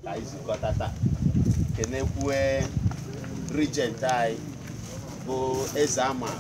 ka anyị zukọta taa kenekwue regent anyị bụ eze ama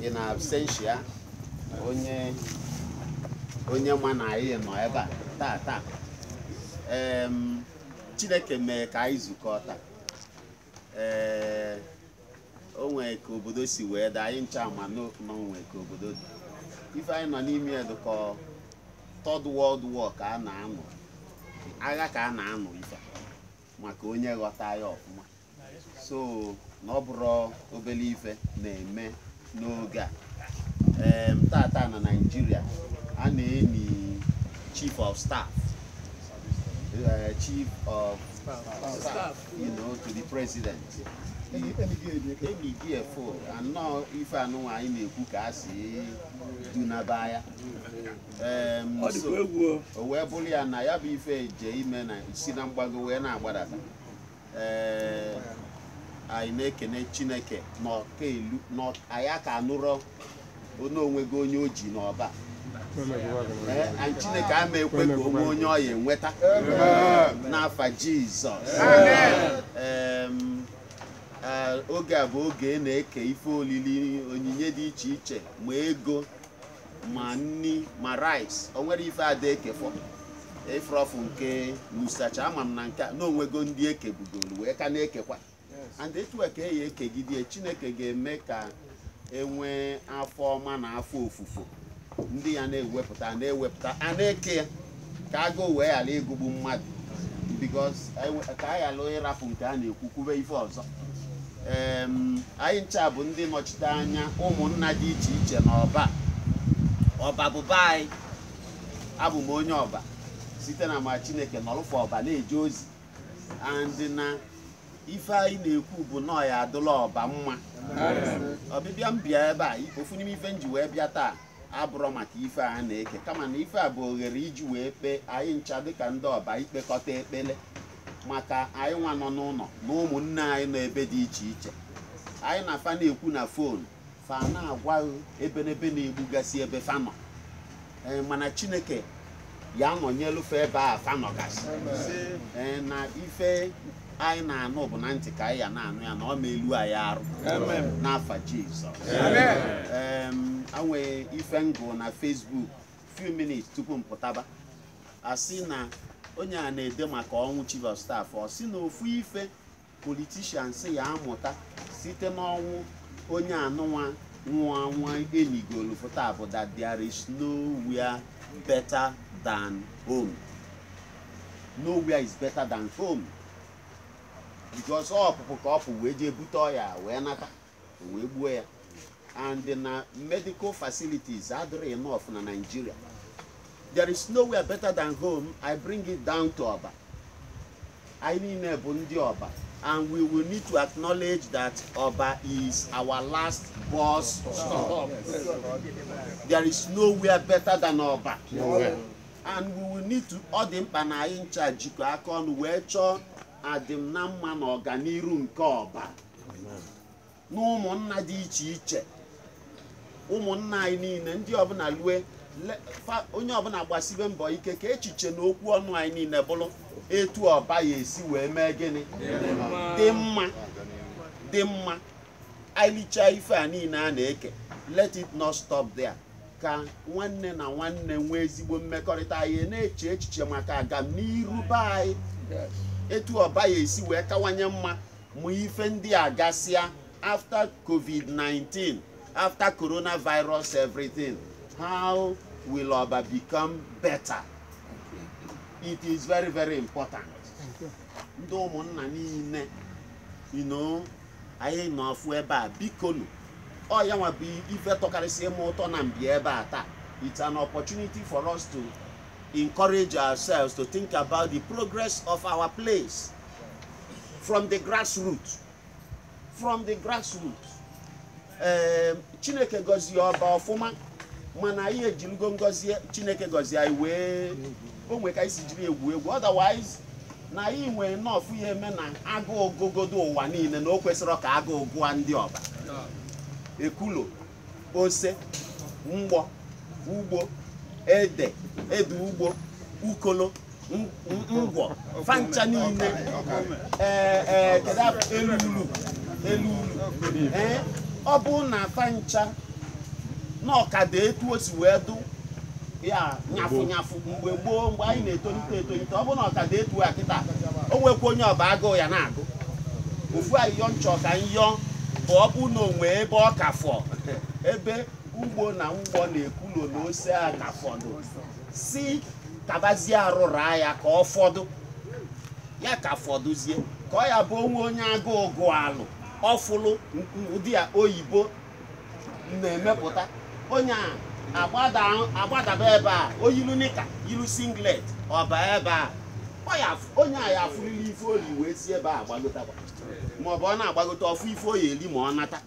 in absentia onye onye ma na anyị nọ ebe a taa taa Em, chineke mee ka anyị zukọọ taa ee o nwere ka obodo si wee daa anyị ncha ma na o nwe ka obodo dị ife anyị nọ n'ime ya dị ka third world war ka a na-anụ agha ka a na-anụ ife maka onye ghọta ya ọfụma so na ọ bụrọ obele ife na-eme n'oge a em, tata na naijiria a na-eni chief of staff eh, chief of staff you know, to the president enigo efo anọ ife anụnwa anyị na-ekwu ka a sị dunaba ya Em, Ọ so- dịkwa egwu o. o wee bụrụ ya na ya bụ ife eje ime na-esi na mgbago wee na-agbadata ee anyị na-ekene chineke na ọ ka elu na ọ- anyị aka anụrọ na o nwego onye o ji n'ọba Ee, anyị chineke ama ekwe ka o nwee onye ọ ya enweta n'afa jizọs Em, eh, oge a bụ oge a na-eke ife olili onyinye dị iche iche ma ego ma nni ma rice o nwere ife ada ekefọ efrọfụ nke musacha ama m na nke a na o nwego ndị e kebugolu wee ka na-ekekwa and etu a ka a ya ekegide chineke ga-eme ka e nwee afọ ọma na afọ ofufo ndị ya na-ewepụta na-ewepụta a na-eke ya ka agụụ wee ghara ịgụgbu mmadụ because anyị- ka anyị ghara ịrapụ nke a na-ekwu kwube ife ọzọ Em, anyị ncha bụ ndị nọchite anya ụmụnna dị iche iche n'ọba ọba bụ be anyị abụ m onye ọba site n'amara chineke nọrụfụ ọba na-eje ozi and na ife anyị na-ekwu bụ na ọ ya adịlị ọba mma ọbịbịa m bịa ebe a ofu n'ime ife m ji wee bịa taa abụrọ maka ife a na-eke kama na ife a bụ oghere iji wee kpee anyị ncha dịka ndị ọba ikpekọta ekpele maka anyị nwa nọ n'ụnọ na ụmụnne anyị nọ ebe dị iche iche anyị na fa na-ekwu na fon fa na-agwa anyị ebenebe na-egbugasị ebe fa nọ ee mana chineke ya anọnyelụ fa ebe fa nọgasị ee na ife anyị na-anụ bụ na ntị ka anyị ya na-anụ ya na ọ ma elu anyị arụ n'afa Jizọs e nwe ife m gụ na Facebook few minutes tupu m pụtaba a sị na onye a na-ede maka ọnwụ chief of staff ọ sị na ofu ife politicians ya amụta site n'ọnwụ onye anụnwa nwa nwa e nigolu pụta bụ that there is nowhere better than home. nowhere is better than home because ọpụpụ ka ọ pụ wee jee bute ọya wee nata o wee gbuo ya and na medical facilities adịrọ enough na Nigeria there is nowhere better than home I bring it down to Oba anyị niile bụ ndị Oba and we will need to acknowledge that Oba is our last bus stop there is nowhere better than Oba. and we will need to ọ dị mkpa na anyị ncha jikọ aka ọnụ wee chọọ adịm na mma na ọganiru nke ọba na ụmụnna dị iche iche ụmụnna anyị niile ndị ọbụla lue le- fa- onye ọbụla gbasibe mbọ ike ka echiche na okwu ọnụ anyị niile bụrụ etu ọba ya-esi wee mee gịnị dị mma dị mma anyị lichaa ife a niile a na-eke let it not stop there ka nwanne na nwanne nwee ezigbo mmekọrịta anyị na-eche echiche maka agamniru be anyị etu ọba ya-esi wee kawanye mma ma ife ndị a gasịa after covid-19 after coronavirus everything how will ọba become better it is very very important ndị ụmụnna niile you know anyị nọ ọfụ ebe a bikonu ọ ya nwa bụ ife tọkarịsị m ụtọ na m bịa ebe a taa it's an opportunity for us to encourage ourselves to think about the progress of our place from the grassroots from the grassroots ee chineke gọzie ọba ọfụma mana anyị ejirigo ngọzi chineke gọzie anyị wee o nwere ka anyị si jiri egwu egwu otherwise na anyị nwee nọọfụ ya eme na agụụ gụgodo ụwa niile na o kwesịrọ ka agụụ gụa ndị ọba ekulo ose mgbọ ugbo ede ede ugbo ukolo ngwọ fancha niile ee ee kedu elu ulu elu ulu ee ọ bụ na fancha na ọ ka dụ etu o si wee dụ ya nyafụ nyafụ mgbe gboo mgbe anyị na-etolite etolite ọ bụ na ọ ka dụ etu a kịta o nwekwa onye ọba agụụ ya na-agụ ofu ayịyọ m chọ ka m yọ bụ ọ bụ na o nwe ebe ọ ka fọ ebe ugbo na mgbọ na ekulo na ose a ka fọdụ si kabazie arụrụ ya ka ọ fọdụ ya ka fọdụzie ka ọ ya bụ o nwe onye agụụ gụọ alụ ọfụlụ ụdị ya oyibo na-emepụta onye a agbada agbadaba ebe a o yilu nika yilu singlet ọ ba ebe a ọ ya afụ- onye a ya afụrịla ife o li wee si ebe a agbagotakwa maọbụ ọ na-agbagote ọ fụ ife ọ ya eli ma ọ nata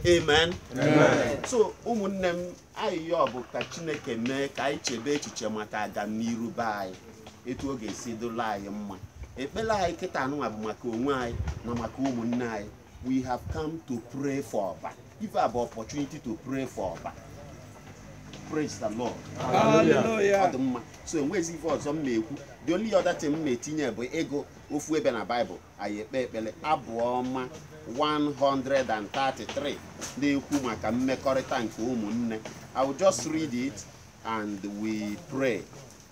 amen so ụmụnne m ayịyọ bụ ka chineke mee ka anyị chebe echiche maka agamniru be anyị etu ọ ga-esi dịlị anyị mma ekpele anyị kịta anụnwa bụ maka onwe anyị na maka ụmụnne anyị we have come to pray for Oba. We have opportunity to pray for Oba. Praise the Lord. Hallelujah. So enwezi ife ọzọ m na-ekwu the only other thing m na-etinye bụ ịgụ ofu ebe na Bible anyị ekpe ekpele abụ ọma 133 na-ekwu maka mmekọrịta nke ụmụnne I will just read it and we pray.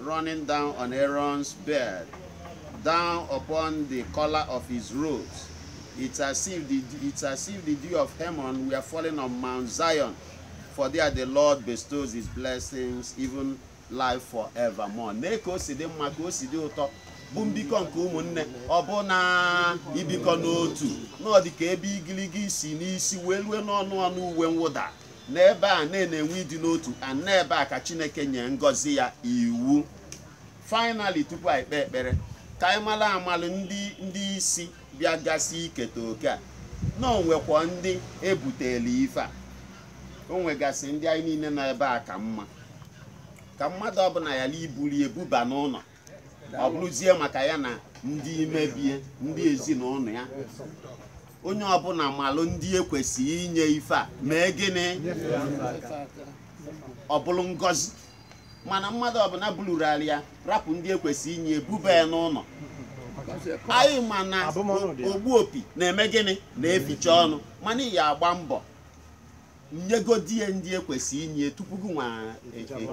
running down on Aaron's beard, down upon the collar of his robes. It's as if the, it's as if the dew of Hermon were falling on Mount Zion, for there the Lord bestows his blessings, even life forevermore. Nee ka o si dị mma ka o si dị ụtọ bụ mbikọ nke ụmụnne ọbụna ibikọ n'otu na ọ dị ka ebe igiligi si n'isi wee lue n'ọnụ ọnụ uwe mwụda n'ebe a na-enwe ịdị n'otu a n'ebe a ka chineke nye ngọzi ya iwu finally tupu anyị kpee ekpere ka anyị malụ amalụ ndị ndị isi bịagasị iketa oke a na o nwekwa ndị e butelu ife a o nwegasị ndị anyị niile nọ ebe a ka mma ka mmadụ ọbụna yala ibulu ebuba n'ụnọ ọ bụrụzie maka ya na ndị ime be ya ndị ezinụnọ ya onye ọbụna malụ ndị e kwesịlị inye ife a mee gịnị ọ bụrụ ngọzi mana mmadụ ọbụna bụrụrarị ya rapụ ndị e kwesịlị inye buba ya n'ụnọ anyị ma na ogbu opi na-eme gịnị na-eficha ọnụ mana ị ya agba mbọ nyegodi ya ndị e kwesị inye tupu gị nwa e- e-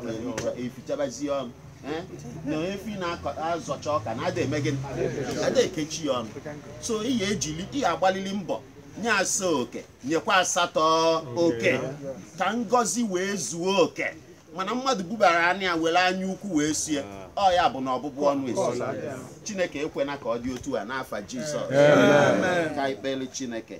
e- efichabazie ọnụ eh? na efi na-azọcha ọka na a da eme gịnị a da ekechi ya ọnụ so ị ya ejili ị ya agbalili mbọ nye asaa oke nyekwa asatọ oke ka ngọzi wee zuo oke mana mmadụ bubara anya ya were anya ukwu wee sie ọ ya abụ na ọbụbụ ọnụ a sị chineke ekwena ka ọ dị otu a n'afa jizọs ka anyị kpelu chineke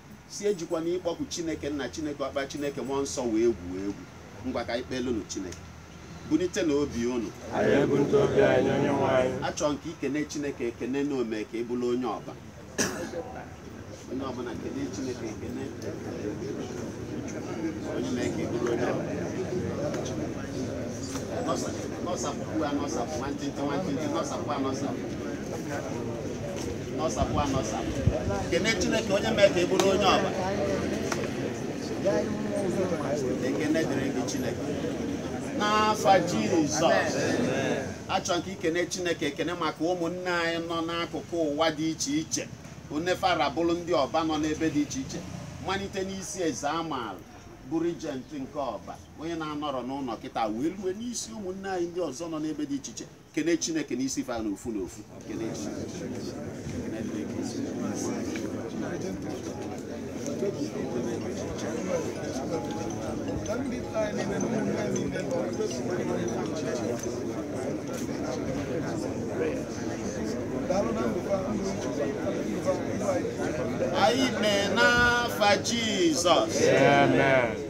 sị ejikwana ịkpọku chineke nna chineke ọkpa chineke mmụọ nsọ wee gwu egwu ngwa ka anyị kpelunu chineke bunitenụ obi unu achọ m ka i kene chineke ekene na o me ka ị bụrụ onye ọba onye ọbụla kene chineke ekene onye mee ka ị bụrụ onye ọba nọsapụ anọsapụ nwantịntị nwantịntị nọsapụ anọsapụ nọsapụ anọsapụ kene chineke onye mee ka ị bụrụ onye ọba ekene dịrị gị chineke n'afa jizọs achọ m ka i kene chineke ekene maka ụmụnne anyị nọ n'akụkụ ụwa dị iche iche one fa ra bụrụ ndị ọba nọ n'ebe dị iche iche malite n'isi eze amaala bụ regent nke ọba onye na-anọrọ n'ụnọ kịta wee rue n'isi ụmụnne anyị ndị ọzọ nọ n'ebe dị iche iche kene chineke n'isi fa n'ofu n'ofu kene anyị mee n'afa jizọs Amen.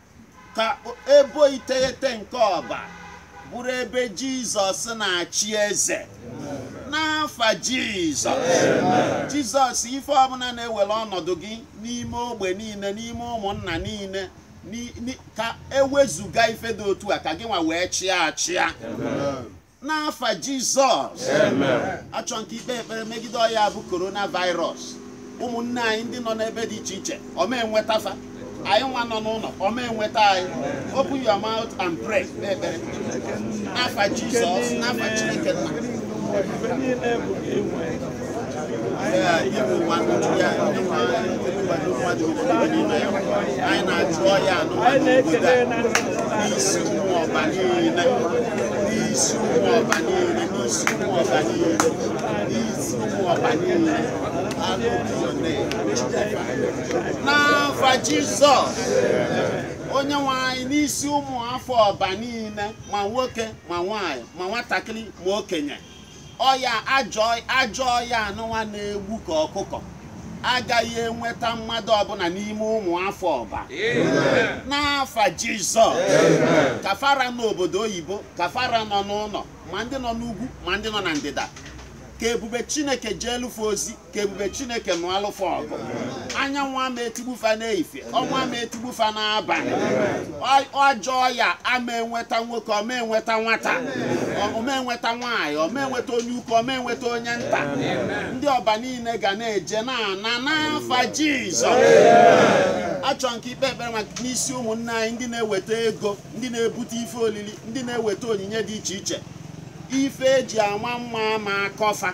ka ebo iteghete nke ọba bụrụ ebe jizọs na-achị eze n'afa jizọs jizọs ife ọbụna na-ewere ọnọdụ gị n'ime ogbe niile n'ime ụmụnna niile ka ewezuga ife dị otu a ka gị nwa wee chịa achịa n'afa jizọs achọ m ka i kpee ekpere megide ọya bụ coronavirus ụmụnne anyị ndị nọ n'ebe dị iche iche ọ ma enweta fa anyị nwa nọ n'ụnọ ọ ma enweta anyị open your mouth and pray kpee ekpere n'afa jizọs n'afa chineke nna n'afa jizọs onye nwe anyị n'isi ụmụ afọ ọba niile ma nwoke ma nwanyị ma nwatakịrị ma okenye ọya ajọ ọya anụnwa na-egbu ka ọkụkọ agaghị enweta mmadụ ọbụna n'ime ụmụ afọ ọba n'afa jizọs ka fa ra n'obodo oyibo ka fa ra nọ n'ụnọ ma ndị nọ n'ugwu ma ndị nọ na ndịda ka ebube chineke jeelụ fa ozi ka ebube chineke nụalụ fa ọgụ anyanwụ ama etigbu fa n'efifie ọnwa ama etigbu fa n'abanị ajọ ọya ama enweta nwoke ọ ma enweta nwata ọ ma enweta nwaanyị ọ ma enweta onye ukwu ọ ma enweta onye nta ndị ọba niile ga na-eje na-ana n'afa jizọs achọ m ka i kpee ekpere maka n'isi ụmụnne anyị ndị na-eweta ego ndị na-ebute ife olili ndị na-eweta onyinye dị iche iche ife eji ama mma ama akọ fa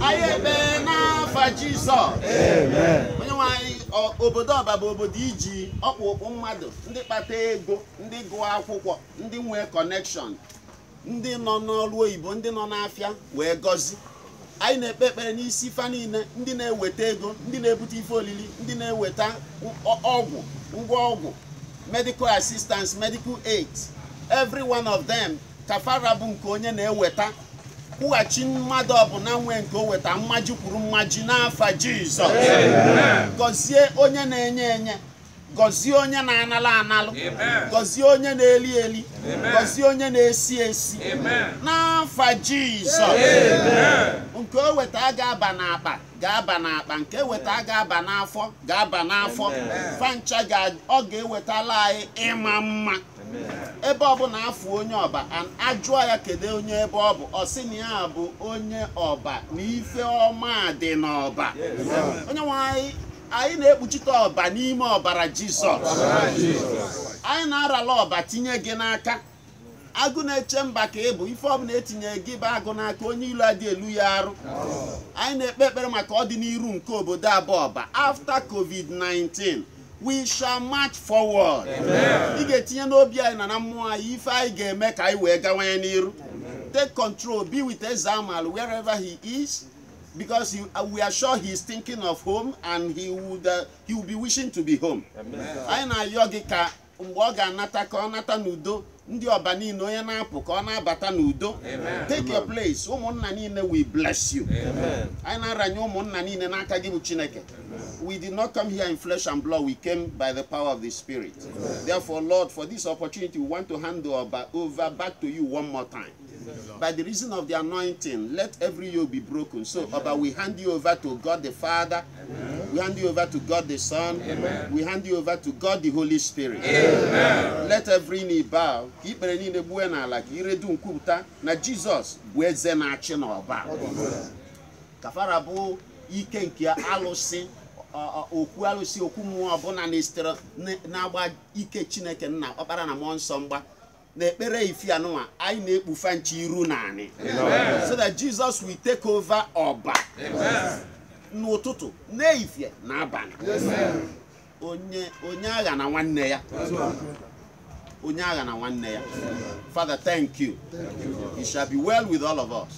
anyị ekpee n'afa Jizọs onye nwe anyị ọ- obodo ọba bụ obodo i ji ọkpụrụkpụ mmadụ ndị kpata ego ndị gụọ akwụkwọ ndị nwee connection ndị nọ n'ọrụ oyibo ndị nọ n'afịa wee gọzi anyị na-ekpe ekpere n'isi fa niile ndị na-eweta ego ndị na-ebute ife olili ndị na-eweta ọ- ọgwụ ngwa ọgwụ medical assistance medical aid every one of them ka fa ra bụ nke onye na-eweta kwụghachi mmadụ ọbụla nwe nke o weta mmaji kwuru mmaji n'afa jizọs gọzie onye na-enye enye gọzie onye na-analụ analụ gọzie onye na-eli eli gọzie onye na-esi esi n'afa jizọs nke o weta ga-aba n'akpa ga-aba n'akpa nke eweta ga-aba n'afọ ga-aba n'afọ fa ncha ọ ga-ewetala anyị ịma mma ebe ọ bụla afụ onye ọba and ajụọ ya kedu onye ebe ọ bụ ọ sị na ya bụ onye ọba na ife ọma dị n'ọba onye nwe anyị anyị na-ekpuchite ọba n'ime ọbara jizọs anyị na-arala ọba tinye gị n'aka agụ na-eche mba ka ị bụ ife ọbụla etinye gị bụ agụ n'aka onye ilo adị elu ya arụ anyị na-ekpe ekpere maka ọdịniru nke obodo a bụ ọba after covid-19 we shall march forward ị ga-etinye n'obi anyị na na mmụọ anyị ife anyị ga-eme ka anyị wee gawanye n'iru take control be with eze amal wherever he is because he, uh, we are sure he is thinking of home and he would uh, he will be wishing to be home anyị na-ayọ gị ka mgbe ọ ga-anata ka ọ nata n'udo ndị ọba niile onye na-apụ ka ọ na-abata n'udo take your place ụmụnna niile we bless you anyị na-aranye ụmụnna niile n'aka gị bụ chineke we did not come here in flesh and blood we came by the power of the spirit therefore lord for this opportunity we want to hand the ọba over back to you one more time By the reason of the anointing, let every yoke be broken. So, Ọba, we hand you over to God the Father. Amen. We hand you over to God the Son. Amen. We hand you over to God the Holy Spirit. Amen. Let every knee bow. Ka ikpere niile gbue n'ala ka ire dum kwupụta na Jizọs bụ eze na-achị n'ọba. Ka fa ra bụ ike nke alụsị okwu alụsị okwu mmụọ ọbụla na-esitere na-agba ike Chineke nna ọkpara na mmụọ nsọ mgba na ekpere ife anụnwa anyị na-ekpu fa ncha iru n'anị so that Jesus will take over ọba n'ụtụtụ n'efifie na abalị onye onye aghana nwanne ya onye aghana nwanne ya father thank you it shall be well with all of us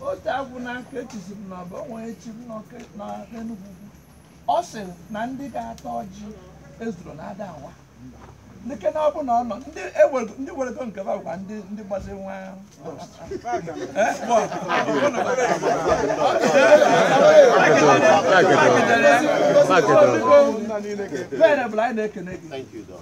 otu agwụ na nke echizi m n'ọba o nwere chi m n'ọke na n'Enugwu Ukwu. ọ sị na ndị ga-ata ọjị ezuro na ada awa dịke na ọ bụ na ọ nọ ndị ewego- ndị werego nke ba bụkwa ndị ndị gbazi nwa Eh, bụ ọgụ. Ọ nọ na- Bene, bụ na anyị na-ekene gị